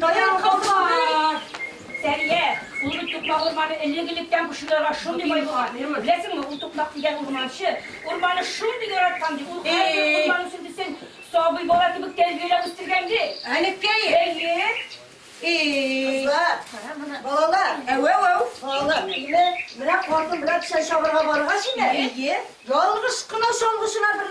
Даян кызлар! Сәрия, ул бит тукмак урманы элек-электән бу шуларга шундый бай булган. Беләсеңме, ул тукмак дигән урманчы урманы шундый яраткан ди, ул һәрбер урман үсентесен сабый бала кебек тәрбияләп үстергән ди. Әнекәе? Әйе. Кызлар, балалар, әү-әү-әү! Балалар, әйеме? Менә картым белән печән чабарга барырга шиме? Әйе. Ялгыш кына чалгычына бер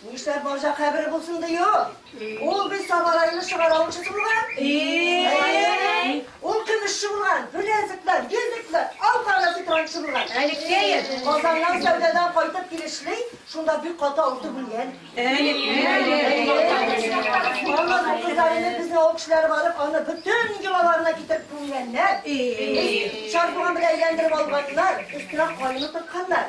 Нишләп марҗа кабере булсын ди ул? Ул бит Сабарайны чыгараучысы булган. Ул көмешче булган, беләзекләр, йөзекләр, алкарда сыйпранчы булган. Әнекәем, Казаннан сәүдәдән кайтып килешли, шунда бик каты авыртып үлгән. Ана кызларны безнең авыл кешеләре барып, аны бөтен йолаларына китереп күмгәннәр. Чардуган белән әйләндереп алганнар, өстенә каен утыртканнар.